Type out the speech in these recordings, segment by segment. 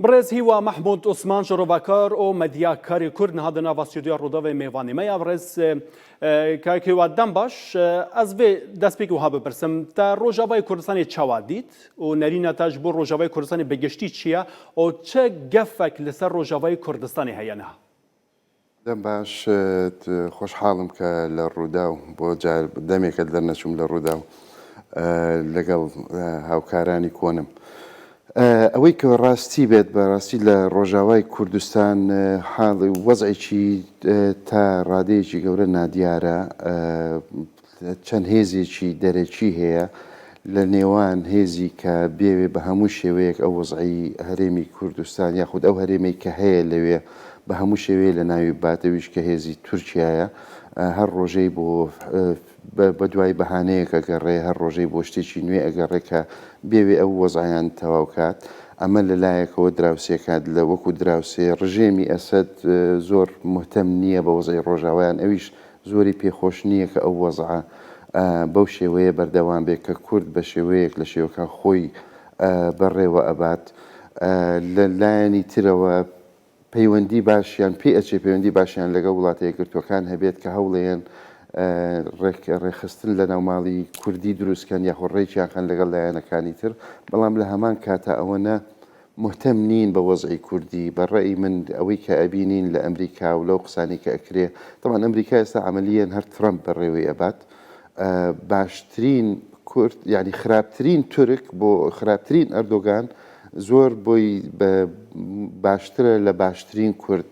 بڕێز هیوا مەحمود عوسمان شرۆڤەکار و مەدیا کاری کورد نهادە ناڤا ستیودیۆ ڕووداڤێ مێڤانی مەیا بڕێز کاک هیوا دەم باش ئەز بێ دەستپێک وها بپرسم تا ڕۆژاڤای کوردستانی چاوا دیت و نەرینە تاش بۆ ڕۆژاڤای کوردستانی بەگشتی چییە و چە گەفەک لەسەر ڕۆژاڤای کوردستانی هەیەنها دەم باش، خۆشحاڵم کە لە ڕووداو، بۆ جار دەمێکە دەرنەچووم لە ڕووداو لەگەڵ هاوکارانی کۆنم. ئەوەی کە ڕاستی بێت، بە ڕاستی لە ڕۆژاوای کوردستان حاڵ، وەزعێکی تا ڕادەیەکی گەورە نادیارە. چەند هێزێکی دەرەکی هەیە لە نێوان هێزی کە بێوێ بە هەموو شێوەیەک ئەو وەزعەی هەرێمی کوردستان یاخود ئەو هەرێمەی کە هەیە لەوێ بە هەموو شێوەیە لە ناوی ببات ئەویش کە هێزی تورکیایە هەر ڕۆژەی بۆ بە دوای بەهانەیەک ئەگەڕێ هەر ڕۆژەی بۆ شتێکی نوێ ئەگەڕێ کە بێوێ ئەو وەزعیان تەواو کات ئەمە لە لایەکەوە دراوسێکات لە وەکو دراوسێ ڕژێمی ئەسد زۆر مهتەم نییە بە وەزعی ڕۆژاوایان ئەویش زۆری پێ خۆش نییە کە ئەو وەزعە بەو شێوەیە بەردەوام بێت کە کورد بە شێوەیەک لە شێوەکان خۆی بەڕێوە ئەبات. لە لایەنی ترەوە پەیوەندی باشیان پێ ئەچێ پەیوەندی باشیان لەگەڵ وڵاتە یەکگرتووەکان هەبێت کە هەوڵێن ڕێکخستن لە ناوماڵی کوردی دروستکەن یاخۆ ڕێکیان خەن لەگەڵ لایەنەکانی تر، بەڵام لە هەمان کاتا ئەوەنە مهتەم نین بە وەزعی کوردی بە ڕەئی من ئەوەی کە ئەبینین لە ئەمریکا و لەو قسانەی کە ئەکرێ تەبعەن ئەمریکا ئێستا عەمەلیەن هەر تڕەمپ بەڕێوەی ئەبات باشترین کورد یانی خراپترین تورک بۆ خراپترین ئەردۆگان زۆر بۆی بە باشترە لە باشترین کورد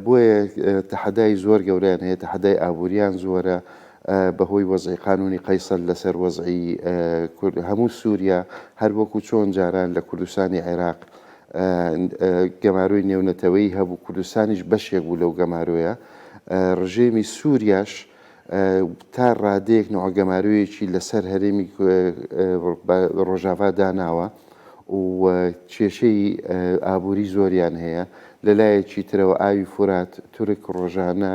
بۆیە تەحەدای زۆر گەوریان هەیە تەحەدای ئابووریان زۆرە بە هۆی وەزعی قانوونی قەیسەر لە سەر وەزعی کورد هەموو سووریا هەر وەکوو چۆن جاران لە کوردستانی عێراق گەمارۆی نێونەتەوەیی هەبوو کوردستانیش بەشێک بوو لەو گەمارۆیە ڕژێمی سووریاش تا ڕادەیەک نوع گەمارۆیەکی لە سەر هەرێمی ڕۆژاڤا داناوە و کێشەی ئابووری زۆریان هەیە لە لایەکی ترەوە ئاوی فورات تورک ڕۆژانە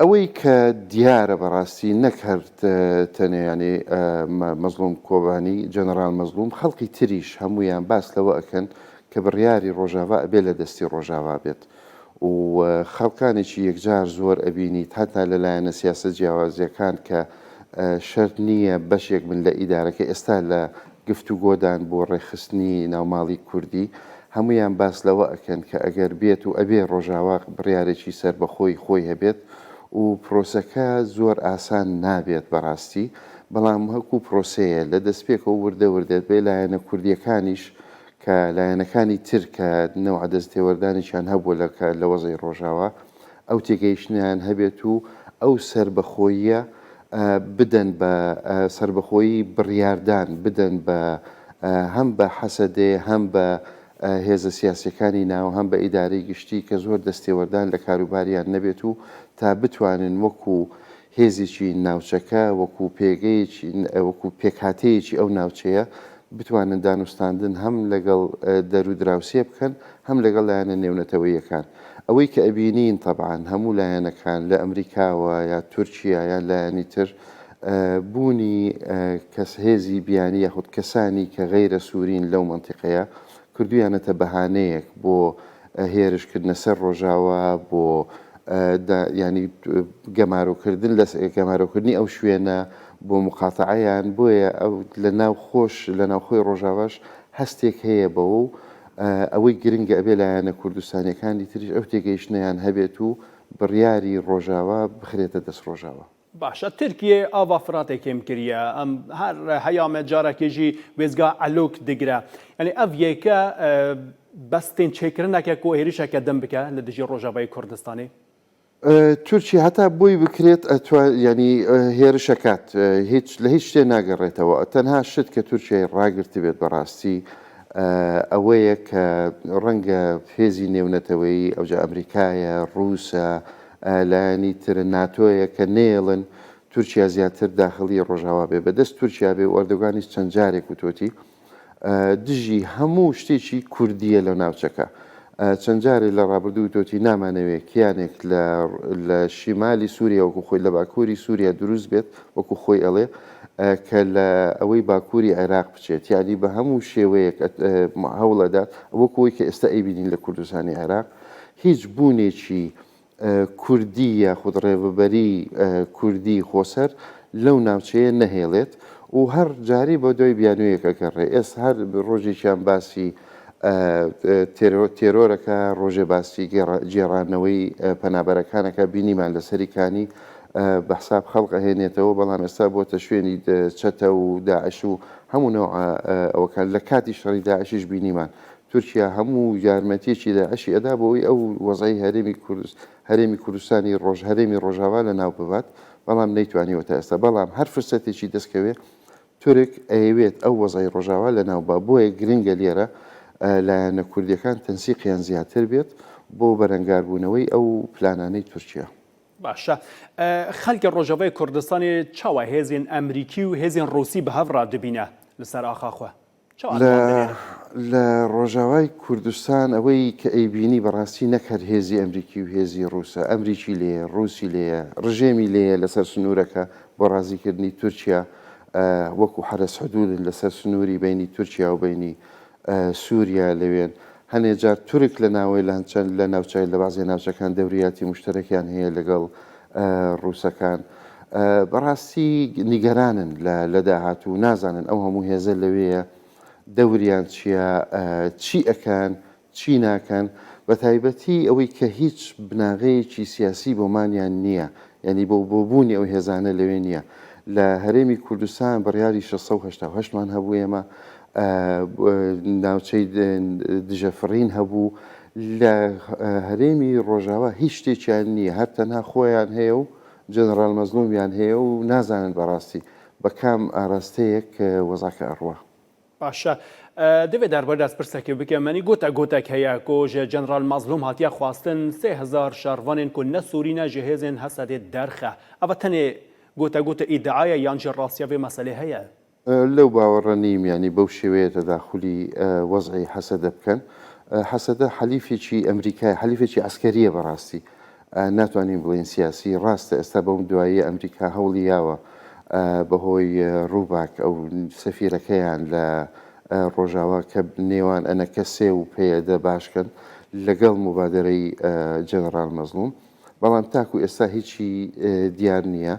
ئەوەی کە دیارە بەڕاستی نەک هەر تەنێ یانێ مەزڵوم کۆبانی جەنەرال مەزڵوم خەڵقی تریش هەموویان باس لەوە ئەکەن کە بڕیاری ڕۆژاڤا ئەبێ لە دەستی ڕۆژاڤا بێت و خەڵکانێکی یەکجار زۆر ئەبینیت هەتا لە لایەنە سیاسە جیاوازیەکان کە شەرت نییە بەشێک بن لە ئیدارەکە ئێستا لە گفتوگۆدان بۆ ڕێکخستنی ناوماڵی کوردی، هەموویان باس لەوە ئەکەن کە ئەگەر بێت و ئەبێ ڕۆژاوا بڕیارێکی سەربەخۆی خۆی هەبێت و پرۆسەکە زۆر ئاسان نابێت بەڕاستی بەڵام وەکو پرۆسەیە لە دەستپێکەوە وردە وردە بێ لایەنە کوردیەکانیش کە لایەنەکانی تر کە نەوعە دەستێوەردانێکیان هەبووە لە لە وەزعی ڕۆژاوا ئەو تێگەیشتنەیان هەبێت و ئەو سەربەخۆییە بدەن بە سەربەخۆیی بڕیاردان بدەن بە هەم بە حەسەدێ هەم بە هێزە سیاسەکانی ناو هەم بە ئیدارەی گشتی کە زۆر دەستێوەردان لە کاروباریان نەبێت و تا بتوانن وەکو هێزێکی ناوچەکە وەکو پێگەیەکی وەکو پێکهاتەیەکی ئەو ناوچەیە بتوانن دانوستاندن هەم لەگەڵ دەرو دراوسێ بکەن هەم لەگەڵ لایەنە نێونەتەوەیەکان ئەوەی کە ئەبینین تەبعان هەموو لایەنەکان لە ئەمریکاوە یا تورکیا یا لایەنی تر بوونی کەس هێزی بیانی یاخود کەسانی کە غەیرە سوورین لەو منتیقەیە کردویانەتە بەهانەیەک بۆ هێرش کردنە سەر ڕۆژاوا بۆ دا یانی گەمارۆ کردن لە گەمارۆ کردنی ئەو شوێنە بۆ مقاتەعەیان بۆیە ئەو لە ناو خۆش لە ناوخۆی ڕۆژاواش هەستێک هەیە بەوە و ئەوەی گرنگە ئەبێ لایەنە کوردستانیەکانی تریش ئەو تێگەیشتنەیان هەبێت و بڕیاری ڕۆژاوا بخرێتە دەست ڕۆژاوا. باشە ترکیە ئاڤا فراتێ کێم کریە ئەم هەر هەیامە جارەکێژی وێزگا ئەلۆک دگرە یعنی ئەڤ یەکە بەس تێن چێکردنەکە کۆ هێریشەکە دەم بکە لە دژی ڕۆژەڤی کوردستانی تورکی هەتا بۆی بکرێت ئەتوا ینی هێرشەکات هیچ لە هیچ شتێ ناگەڕێتەوە تەنها شت کە تورکیای ڕاگررت بێت بەڕاستی ئەوەیە کە ڕەنگە فێزی نێونەتەوەی ئەوجا ئەمریکایە ڕووسە لایەنی تر ناتۆیە کە نەیەڵن تورکیا زیاتر داخڵی ڕۆژاوا بێ بە دەست تورکیا بێ و ئەردۆگانیش چەند جارێک وتۆتی دژی هەموو شتێکی کوردیە لە ناوچەکە چەند جارێ لە ڕابردوو وتۆتی نامانەوێ کیانێک لە شیمالی سووریا وەکو خۆی لە باکووری سووریا دروست بێت وەکو خۆی ئەڵێ کە لە ئەوەی باکووری عێراق بچێت یعنی بە هەموو شێوەیەک هەوڵەدات وەکوی کە ئێستا ئەیبینین لە کوردستانی عێراق هیچ بوونێکی کوردی یاخود ڕێڤەبەری کوردی خۆسەر لەو ناوچەیە نەهێڵێت و هەر جارەی بە دوای بیانوویەک ئەگەڕێ ئێستا هەر ڕۆژێکیان باسی تێرۆرەکە ڕۆژێ باسی گێڕانەوەی پەنابەرەکانەکە بینیمان لە سەری کانی بە حساب خەڵق ئەهێنێتەوە بەڵام ئێستا بۆتە شوێنی چەتە و داعش و هەموو نەوە ئەوەکان لە کاتی شەڕی داعشیش بینیمان تورکیا هەموو یارمەتیەکی داعشی ئەدا بۆ ئەوەی ئەو وەزعی هەرێمی کورد هەرێمی کوردستانی ڕۆژ هەرێمی ڕۆژاوا لە ناو ببات بەڵام نەیتوانیوە تا ئێستا بەڵام هەر فرسەتێکی دەست کەوێ تورک ئەیەوێت ئەو وەزعی ڕۆژاوا لە ناو با بۆیە گرنگە لێرە لایەنە کوردیەکان تەنسیقیان زیاتر بێت بۆ بەرەنگار بوونەوەی ئەو پلانانەی تورکیا. باشە خەلکی ڕۆژەڤی کوردستانی چاوە هێزین ئەمریکی و هێزین ڕوسی بەهەڤ ڕادبینە لەسەر ئاخاخوە لە لە ڕۆژاوای کوردستان ئەوەی کە ئەیبینی بەڕاستی نەک هەر هێزی ئەمریکی و هێزی ڕووسە، ئەمریکی لێیە، ڕووسی لێیە، ڕژێمی لێیە لەسەر سنوورەکە بۆ ڕازیکردنی تورکیا وەکو حەرەس حدوودن لەسەر سنووری بینی تورکیا و بینی سووریا لەوێن. هەنێ جار تورک لە ناوەیلان چەند لە ناوچە لە بازێ ناوچەکان دەوریاتی مشتەرەکیان هەیە لەگەڵ ڕووسەکان بەڕاستی نیگەرانن لە داهاتوو و نازانن ئەو هەموو هێزە لەوێیە دەوریان چییە، چی ئەکەن، چی ناکەن، بەتایبەتی ئەوەی کە هیچ بناغەیەکی سیاسی بۆمانیان نییە، یانی بۆ بۆ بوونی ئەو هێزانە لەوێ نییە. لە هەرێمی کوردستان بڕیاری شەش سەد و هەشتا و هەشت مان هەبوو ئێمە ناوچەی دژەفڕین هەبوو، لە هەرێمی ڕۆژاوا هیچ شتێکیان نییە، هەر تەنها خۆیان هەیە و جەنەڕال مەزڵومیان هەیە و نازانن بەڕاستی بە کام ئاراستەیەک وەزعەکە ئەڕوا. باشە دەبێ دەربارەی داسپرسەکی بکەم منی گۆتا گۆتەک هەیە کۆ ژە جەنڕال مەزلوم هاتیە خواستن سێ هەزار شەڕڤانێن کۆ نە سوورینە ژە هێزێن هەسەدێ دەرخە ئەڤە تەنێ گۆتە گۆتە ئیدعایە یان ژە ڕاستیە ڤێ مەسەلێ هەیە؟ لەو باوەڕە نیم یانی بەو شێوەیە تەداخولی وەزعی هەسەدە بکەن هەسەدە حەلیفێکی ئەمریکای حەلیفێکی عەسکەریە بەڕاستی ناتوانین بڵێن سیاسی ڕاستە ئێستا بەم دوایی ئەمریکا هەوڵی یاوە بەهۆی ڕووباک ئەو سەفیرەکەیان لە ڕۆژاوا کە نێوان ئەنەکە سێ و پێدە باشکەن لەگەڵ مبادرەی جەنەڕال مەزلوم بەڵام تاکو ئێستا هیچی دیار نییە.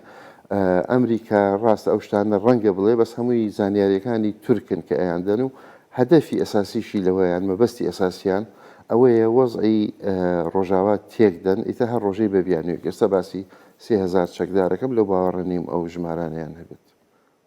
ئەمریکا ڕاستە ئەو شتانە ڕەنگە بڵێ بەس هەمووی زانیاریەکانی تورکن کە ئەیان دەن و هەدەفی ئەساسیشی لەوە یان مەبەستی ئەساسیان ئەوەیە وەزعی ڕۆژاوا تێک دەن ئیتر هەر ڕۆژەی بە بیانویەک ئێستا باسی سێ هەزار چەکدارەکەم لەو باوەڕە نیم ئەو ژمارانەیان هەبێت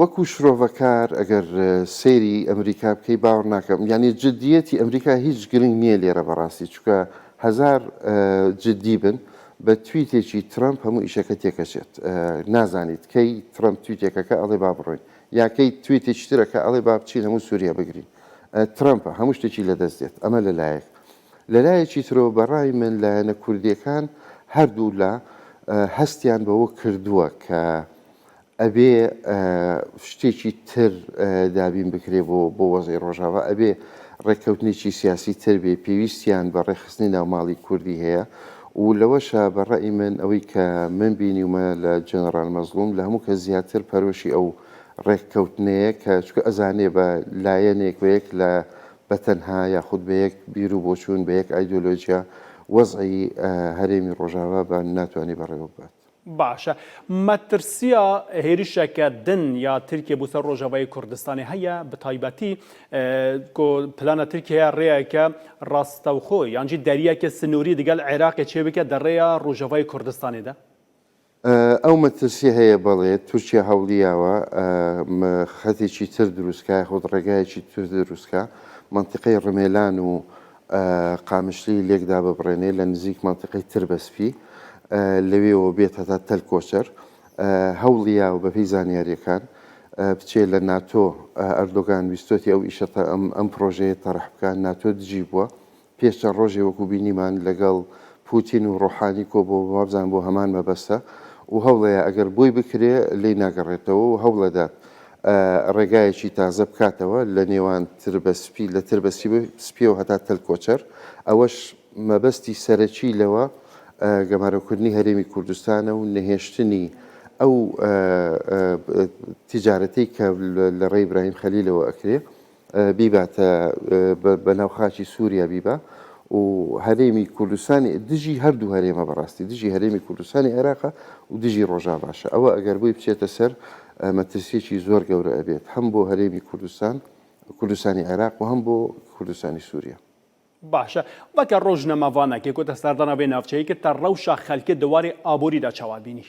وەکو شرۆڤەکار ئەگەر سەیری ئەمریکا بکەی باوەڕ ناکەم یانی جدیەتی ئەمریکا هیچ گرنگ نیە لێرە بەڕاستی چونکە هەزار جدی بن بە تویتێکی ترەمپ هەموو ئیشەکە تێکەچێت نازانیت کەی ترەمپ تویتێکەکە ئەڵێ با بڕۆین یاکەی تویتێکی ترەکە ئەڵێ با بچین هەموو سووریا بگرین ترەمپە هەموو شتێکی لەدەست دێت ئەمە لەلایەک لەلایەکی ترەوە بەڕای من لایەنە کوردیەکان هەردوو لا هەستیان بەوە کردووە کە ئەبێ شتێکی تر دابین بکرێ بۆ بۆ وەزی ڕۆژاوا ئەبێ ڕێککەوتنێکی سیاسی تر بێ پێویستیان بە ڕێخستنی ناوماڵی کوردی هەیە و لەوەشە بە ڕێی من ئەوەی کە من بینیومە لە جەنەڕال مەزلوم لە هەموو کە زیاتر پەرۆشی ئەو ڕێککەوتنەیە کە چکە ئەزانێ بە لایەنێک بە یەک لە بەتەنها یاخود بە یەک بیر و بۆچوون بە یەک ئایدۆلۆژیا وەزعی هەرێمی ڕۆژاوا بە ناتوانانی بەڕێوە ببات. باشە مەترسیا هێرشەکە دن یا ترکیە بوسەر ڕۆژەڤی کوردستانی هەیە بتایبەتی کۆ پلانە ترکیە ڕێیەکە ڕاستەوخۆ یانجی دەریەکە سنووری دگەل عێراقی چێ بکە دەڕێە ڕۆژەڤی کوردستانیدا ئەو مەترسی هەیە بەڵێت تورکیا هەوڵیاوە خەتێکی تر دروستکە خۆت ڕێگایەکی تر دروستکە منتیقەی ڕمێلان و قامشلی لێک داببڕێنێ لە نزیک مەنتیقەی تربەسپی لەوێوە بێت هەتا تەل کۆچەر هەوڵیاو بەپێی زانیاریەکان بچێ لە ناتۆ ئەردۆگان ویستۆتی ئەو ئیشە ئەم ئەم پرۆژەیە تەڕح بکە ناتۆ دژی بووە پێش چەند ڕۆژێ وەکو بینیمان لەگەڵ پوتین و ڕۆحانی کۆ بۆ وابزان بۆ هەمان مەبەستە و هەوڵەیە ئەگەر بۆی بکرێ لی ناگەڕێتەوە و هەوڵەدات ڕێگایەکی تازە بکاتەوە لە نێوان تربە سپی لە تربە سپیەوە هەتا تەل کۆچەر، ئەوەش مەبەستی سەرەکی لەوە گەمارۆکردنی هەرێمی کوردستانە و نەهێشتنی ئەو تیجارەتەی کە لە ڕێی براهیم خەلیلەوە ئەکرێ. بیباتە بە ناو خاکی سوریا بیبا و هەرێمی کوردستانی دژی هەردوو هەرێمە بەڕاستی دژی هەرێمی کوردستانی عێراقە و دژی ڕۆژا باشە ئەوە ئەگەر بۆی بچێتە سەر مەترسیەکی زۆر گەورە ئەبێت هەم بۆ هەرێمی کوردستان کوردستانی عێراق و هەم بۆ کوردستانی سووریا باشە وەکە ڕۆژ نەماڤانەکێکۆتە سەردانە بێ ناوچەیەکە تە ڕەوشە خەلکە دەوارێ ئابووریدا چاوابینی.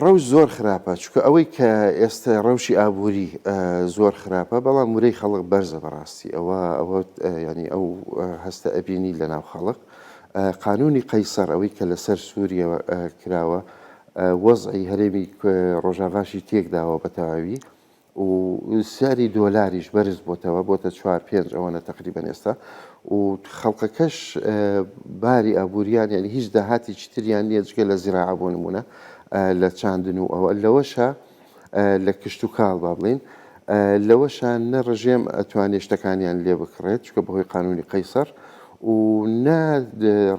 رەوش زۆر خراپە چونکە ئەوەی کە ئێستە رەوشی ئابووری زۆر خراپە بەڵام ورەی خەڵک بەرزە بەڕاستی ئەوە ئەوە ینی ئەو هەستە ئەبینی لە ناو خەڵک قانونی قەیسەر ئەوەی کە لەسەر سووریە کراوە وەزعی هەرێمی رۆژاڤاشی تێکداوە بە تەواوی و زیانی دۆلاریش بەرز بۆتەوە بۆتە چوار پێنج ئەوەنە تەقریبەن ئێستا و خەڵقەکەش باری ئابووریان یعنی هیچ داهاتی چتریان نییە جگە لە زیراعە بۆ نمونە لە چاندن و ئەوە لەوەشە لە کشت و کاڵ با بڵین لەوەشە نە ڕژێم ئەتوانێ شتەکانیان لێ بکڕێت چکە بەهۆی قانونی قەیسەر و نە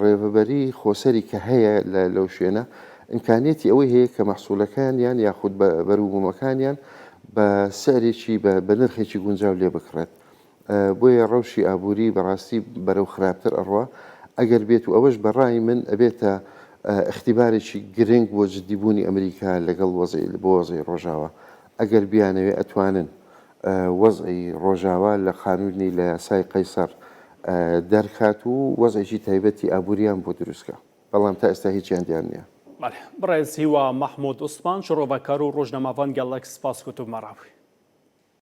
ڕێڤەبەری خۆسەری کە هەیە لەو شوێنە ئیمکانیەتی ئەوەی هەیە کە مەحسوولەکانیان یاخود بەروبوومەکانیان بە سعرێکی بە نرخێکی گونجاو لێ بکڕێت بۆیە ڕەوشی ئابووری بەڕاستی بەرەو خراپتر ئەڕوا ئەگەر بێت و ئەوەش بە ڕای من ئەبێتە اختیبارێکی گرنگ بۆ جددیبوونی ئەمریکا لەگەڵ وەزعی بۆ وەزعی ڕۆژاوا ئەگەر بیانەوێ ئەتوانن وەزعی ڕۆژاوا لە قانونی لە یاسای قەیسەر دەرکات و وەزعێکی تایبەتی ئابووریان بۆ دروستکە. بەڵام تا ئێستا هیچیان دیار نیە. بەڵێ بەڕێز هیوا مەحمود عوسمان شڕۆڤەکار و ڕۆژنامەڤان گەڵەک سپاس کتوبمە ڕاڤەی.